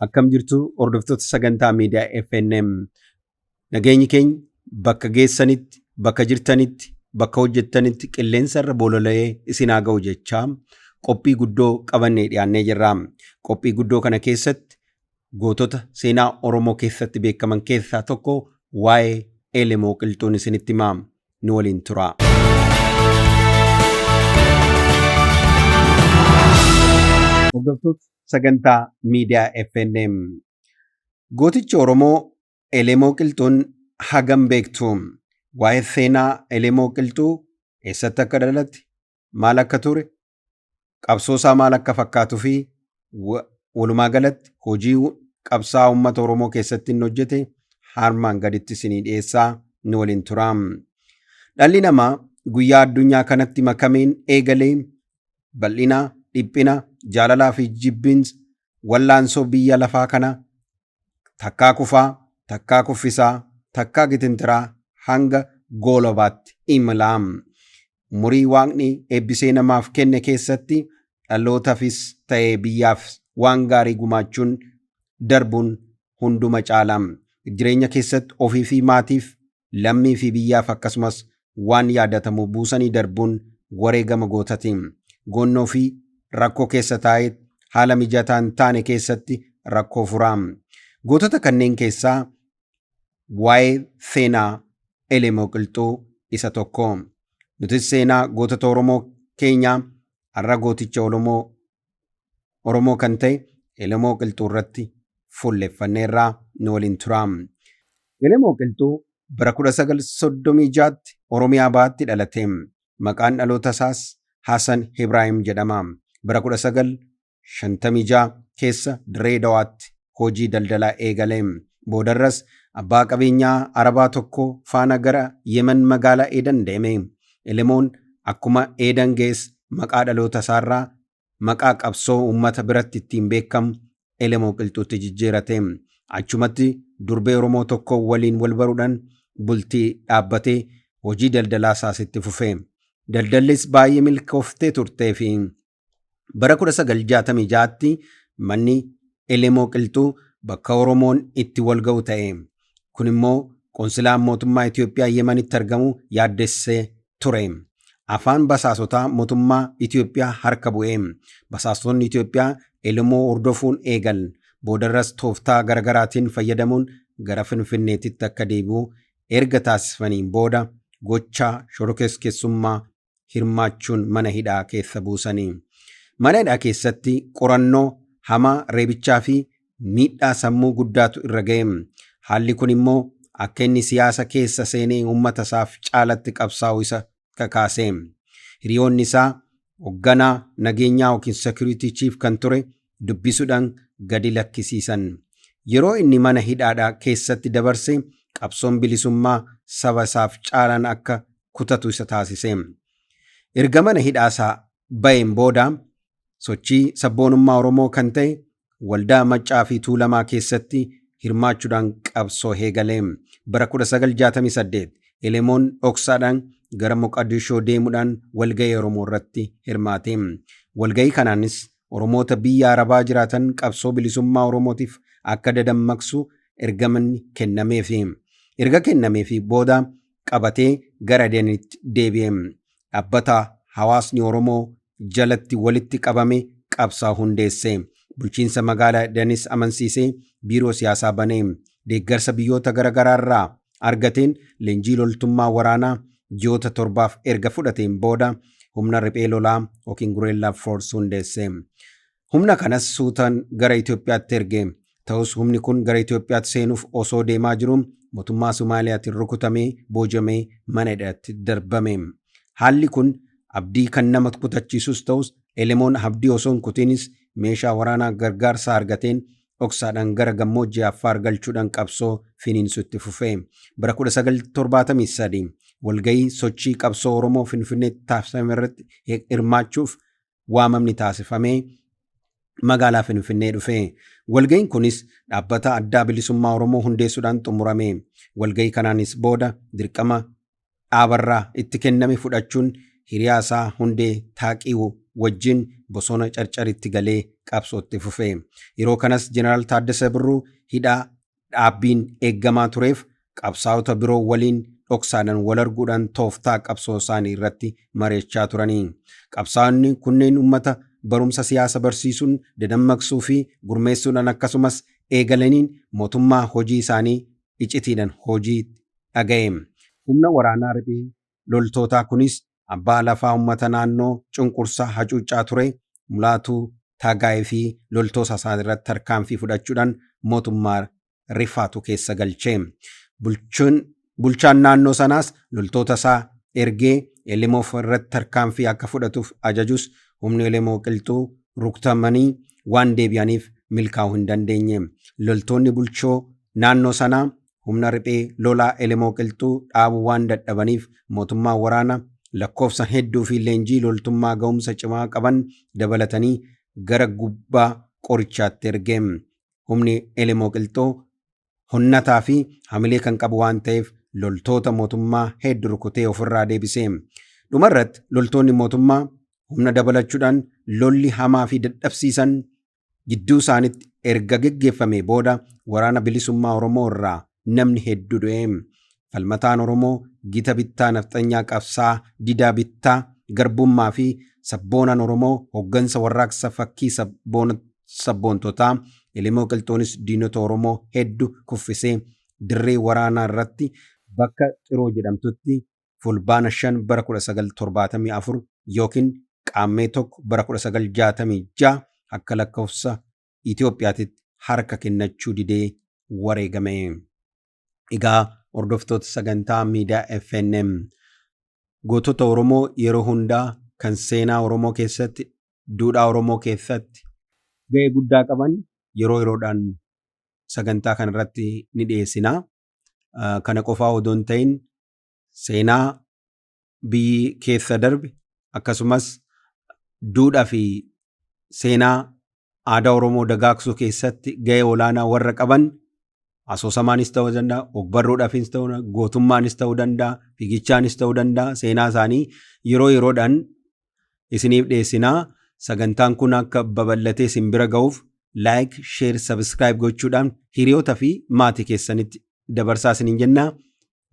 Akkam jirtu hordoftoota sagantaa miidiyaa FNM. Nageenyi keenya bakka geessanitti, bakka jirtanitti, bakka hojjettanitti qilleensa irra bolola'ee isin haa ga'u jechaa qophii guddoo qabannee dhiyaannee jirra. Qophii guddoo kana keessatti Gootota seenaa Oromoo keessatti beekaman keessaa tokko waa'ee Elemoo Qilxuun isinitti hima. Nu waliin turaa. Hordoftoota sagantaa miidiyaa FNM. Gootichi Oromoo Elemoo Qilxuun hagam beektu? Waa'ee seenaa Elemoo Qilxuu eessatti akka dhalatte, maal akka ture, qabsoosaa maal akka fakkaatufi walumaa galatti hojii qabsaa uummata Oromoo keessatti inni hojjete harmaan gaditti isinii dhiyeessaa nu waliin tura. Dhalli namaa guyyaa addunyaa kanatti makameen eegalee bal'ina, dhiphina, jaalalaa fi jibbiinsa wallaansoo biyya lafaa kana takkaa kufaa, takkaa kuffisaa, takkaa gitintiraa hanga goolobaatti imala. Umurii Waaqni eebbisee namaaf kenne keessatti dhalootafis ta'e biyyaaf waan gaarii gumaachuun darbuun hunduma caala. Jireenya keessatti ofii fi maatiif lammii fi biyyaaf akkasumas waan yaadatamu buusanii darbuun wareegama gootati. Goonnoo fi rakkoo keessa taa'ee haala mijataa hin taane keessatti rakkoo fura. Gootota kanneen keessaa waa'ee Feenaa Elemoo Qilxuu isa tokko. Nutis seenaa gootota Oromoo keenyaa har'a gooticha Oromoo Oromoo kan ta'e Elemoo Qilxuu irratti fuulleffanneerra nu waliin tura. Elemoo Qilxuu bara 1936tti Oromiyaa Bahaatti dhalate. Maqaan dhaloota isaas Hasan Ibraahim jedhama. Bara 1956 keessa Dirree Dawaatti hojii daldalaa eegale. Boodarras abbaa qabeenyaa Arabaa tokko faana gara Yemen magaalaa Eedan deeme. Elemoon akkuma Eedan ga'es maqaa dhalootasaarraa maqaa qabsoo uummata biratti ittiin beekamu Elemoo Qilxuutti jijjiirate. Achumatti durbee Oromoo tokko waliin walbaruudhaan bultii dhaabbatee hojii daldalaasaas itti fufe. Daldallis baay'ee milkooftee turteefi. Bara 1966tti manni Elemoo Qilxuu bakka Oromoon itti wal ga'u ta'e. Kun immoo qonsilaan mootummaa Itoophiyaa Yemanitti argamu yaaddessee ture. Afaan basaasotaa mootummaa Itoophiyaa harka bu'e. Basaastonni Itoophiyaa Elemoo hordofuun eegal. Boodarras tooftaa garagaraatiin fayyadamuun gara Finfinneetitti akka deebi'u erga taasisfaniin booda gochaa shorokeskessummaa hirmaachuun mana hidhaa keessa buusanii. Mana hidhaa keessatti qorannoo hamaa reebichaa fi miidhaa sammuu guddaatu irra ga'e. Haalli kun immoo akka inni siyaasa keessa seenee uummata isaaf caalatti qabsaa'u isa kakaase. Hiriyoonni isaa hogganaa nageenyaa yookiin security chief kan ture dubbisudhan gadi lakkisiisan. Yeroo inni mana hidhaadha keessatti dabarse qabsoon bilisummaa saba isaaf caalaan akka kutatu isa taasise. Erga mana hidhaasaa ba'een booda sochii sabboonummaa Oromoo kan ta'e waldaa Maccaa fi Tuulamaa keessatti hirmaachudhaan qabsoo heegale. Bara 1968 Elemoon dhoksaadhaan gara Moqadishoo deemudhaan walga'ii Oromoo irratti hirmaate. Walga'ii kanaanis Oromoota biyya Arabaa jiraatan qabsoo bilisummaa Oromootiif akka dadammaqsu ergamanni kennameefi. Erga kennameefi booda qabatee gara Adenitti deebi'e. Dhabbata hawaasni Oromoo jalatti walitti qabame qabsaa hundeesse. Bulchiinsa magaala Adenis amansiisee biiroo siyaasaa bane. Deeggarsa biyyoota gara garaa irraa argateen leenjii loltummaa waraanaa ji'oota torbaaf erga fudhateen booda humna riphee lolaa yookiin Gureellaa Foors hundeesse. Humna kanas suutaan gara Itoophiyaatti erge. Ta'us humni kun gara Itoophiyaatti seenuuf osoo deemaa jiruu mootummaa Somaaliyaatiin rukutamee, boojamee mana hidhaatti darbame. Haalli kun abdii kan nama kutachiisus ta'us Elemoon abdii osoo hin kutiinis meeshaa waraanaa gargaarsaa argateen dhoksaadhaan gara gammoojjii Affaar galchuudhaan qabsoo finiinsuu itti fufe. Bara 1973 walgahii sochii qabsoo Oromoo Finfinneetti taasifame irratti hirmaachuuf waamamni taasifamee magaalaa Finfinnee dhufe. Walgahiin kunis dhaabbata addaa bilisummaa Oromoo hundeessuudhaan xumurame. Walgahii kanaanis booda dirqama dhaabarraa itti kenname fudhachuun hiriyaa isaa Hundee Taaqiiw wajjin bosona Carcaritti galee qabsoo itti fufe. Yeroo kanas Jeneraal Taaddasa Birruu hidhaa dhaabbiin eeggamaa tureef qabsaa'ota biroo waliin dhoksaadhaan wal arguudhaan tooftaa qabsoo isaanii irratti mari'achaa turani. Qabsaa'onni kunneen uummata barumsa siyaasa barsiisuun, dadammaqsuu fi gurmeessuudhaan akkasumas eegalaniin mootummaa hojii isaanii icitiidhan hojiitti dhaga'e. Humna waraanaa riphee loltootaa kunis abbaa lafaa ummata naannoo cunqursaa hacuuccaa ture Mulaatuu Taagaay fi loltoosa isaa irratti tarkaanfii fudhachuudhan mootummaa rifaatu keessa galche. Bulchaan naannoo sanaas loltoota isaa ergee Elemof irratti tarkaanfii akka fudhatuuf ajajus humni Elemoo Qilxuu ruktamanii waan deebi'aniif milkaa'uu hin dandeenye. Loltoonni bulchoo naannoo sanaa humna riphee lolaa Elemoo Qilxuu dhaabuu waan dadhabaniif mootummaan waraana lakkoofsan hedduu fi leenjii loltummaa ga'umsa cimaa qaban dabalatanii gara gubbaa qorichaatti erge. Humni Elemoo Qilxuu hunnataa fi hamilee kan qabu waan ta'eef loltoota mootummaa heeddu rukutee ofirraa deebisee. Dhumarratti loltoonni mootummaa humna dabalachuudhaan lolli hamaa fi dadhabsiisan gidduu isaanitti erga geggeeffamee booda waraana bilisummaa Oromoo irraa namni hedduu du'e. Falmataan Oromoo gita bittaa nafxanyaa qabsaa didaa bittaa garbummaa fi sabboonaan Oromoo hoggansa warraaqsa fakkii sabboona sabboontotaa Elemoo Qilxuunis diinota Oromoo heddu kuffisee dirree waraanaa irratti bakka Xiroo jedhamtutti Fulbaana 5 bara 1974 ykn Qaammee 1 bara 1966 akka lakkofsa Itoophiyaatitti harka kennachuu didee wareegame. Egaa hordoftoota sagantaa miidiyaa FNM gootota Oromoo yeroo hundaa kan seenaa Oromoo keessatti duudhaa Oromoo keessatti ga'ee guddaa qaban yeroo yeroodhaan sagantaa kana irratti ni dhiyeessina. Kana qofaa odoo hin ta'in seenaa biyyi keessa darbe akkasumas duudhaa fi seenaa aadaa Oromoo dagaagsuu keessatti gahee olaanaa warra qaban asoosamaanis ta'uu danda'a, ogbarruudhaafis ta'uu danda'a, gootummaanis ta'uu danda'a, fiigichaanis ta'uu danda'a. Seenaa isaanii yeroo yeroodhaan isiniif dhiyeessinaa. Sagantaan kun akka babal'atee isin bira ga'uuf like, share, subscribe gochuudhaan hiriyoota fi maatii keessanitti dabarsaa isiniin jennaa.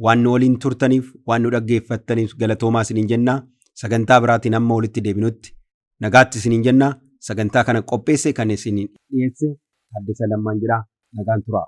Waan nu waliin turtaniif, waan nu dhaggeeffattaniif galatoomaa isiniin jenna. Sagantaa biraatiin amma walitti deebinutti nagaatti isiniin jenna. Sagantaa kana qopheesse kan isin dhiyeesse Taaddasa Lammaan jedha. Nagaan turaa.